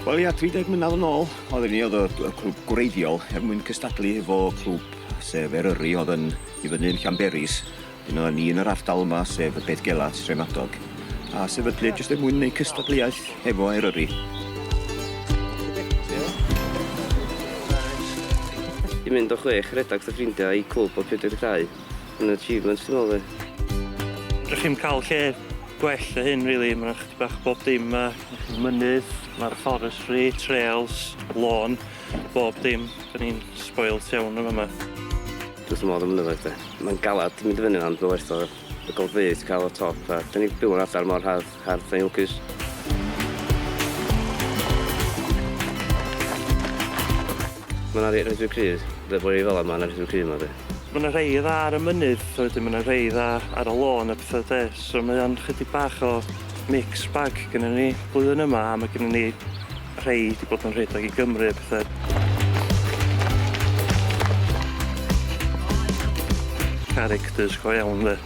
Wel ia, 30 mlynedd yn ôl, oedden ni oedd y, y clwb gwreiddiol er mwyn cystadlu efo clwb sef Eryri oedd yn i fyny'n Llanberis. Dyna ni yn yr ardal yma, sef y Beddgellau, Tre Madog, a sefydlir jyst er mwyn wneud cystadleuaeth hefo Eryri. I mynd o chwech rhedag dy ffrindiau i clwb o 42 yn achievement dwi'n meddwl fi. Fedrwch chi'm cael lle gwell na hyn rili, ma' 'na chydig bach o bob dim 'ma. Mynydd, ma'r forestry, trails, lôn, bob dim. 'Dan ni'n spoilt iawn yn fama. Dwi wrth fy modd am y mynyddoedd de. Mae'n galed mynd i fyny ond mae'n werth o y golygfeydd ti'n cael o'r top a dan ni'n byw mewn adar mor hardd, hardd dan ni'n lwcus. Mae 'na rei reit reit cryf. Fel bod ni fel 'ma mae 'na rei reit cryf 'ma de. Mae 'na rei dda ar y mynydd a wedyn mae 'na rei dda ar y lôn a petha de so mae o'n chydig bach o mixed bag gynnon ni blwyddyn yma a mae gynnon ni Rhei 'di bod yn rhedeg i Gymru a pethe. Characters go iawn 'de.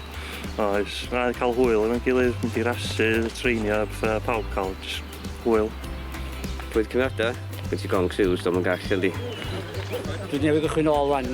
Oes, na i cael hwyl efo'n gilydd, mynd i rasys, treinio a petha, pawb cael jyst hwyl. Bwyd cyfnodau? Gen ti gong siws, do'm yn gall yndi? Dwi newydd gychwyn nôl 'wan.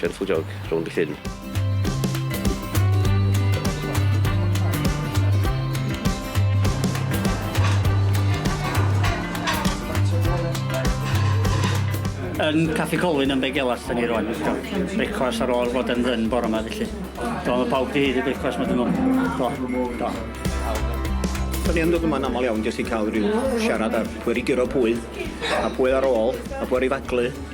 Gentle jog rownd y llyn. Yn Caffi Colwyn yn Begelas 'da ni rŵan. Brecwast ar ôl fod yn ddyn bore 'ma felly. Do, mae pawb 'di haeddu brecwast ma' dyn nhw. Do, do. Da ni yn dod yma'n aml iawn jyst i cael rhyw siarad ar pwy wedi guro pwy, a pwy ar ôl, a pwy ar ei faglu.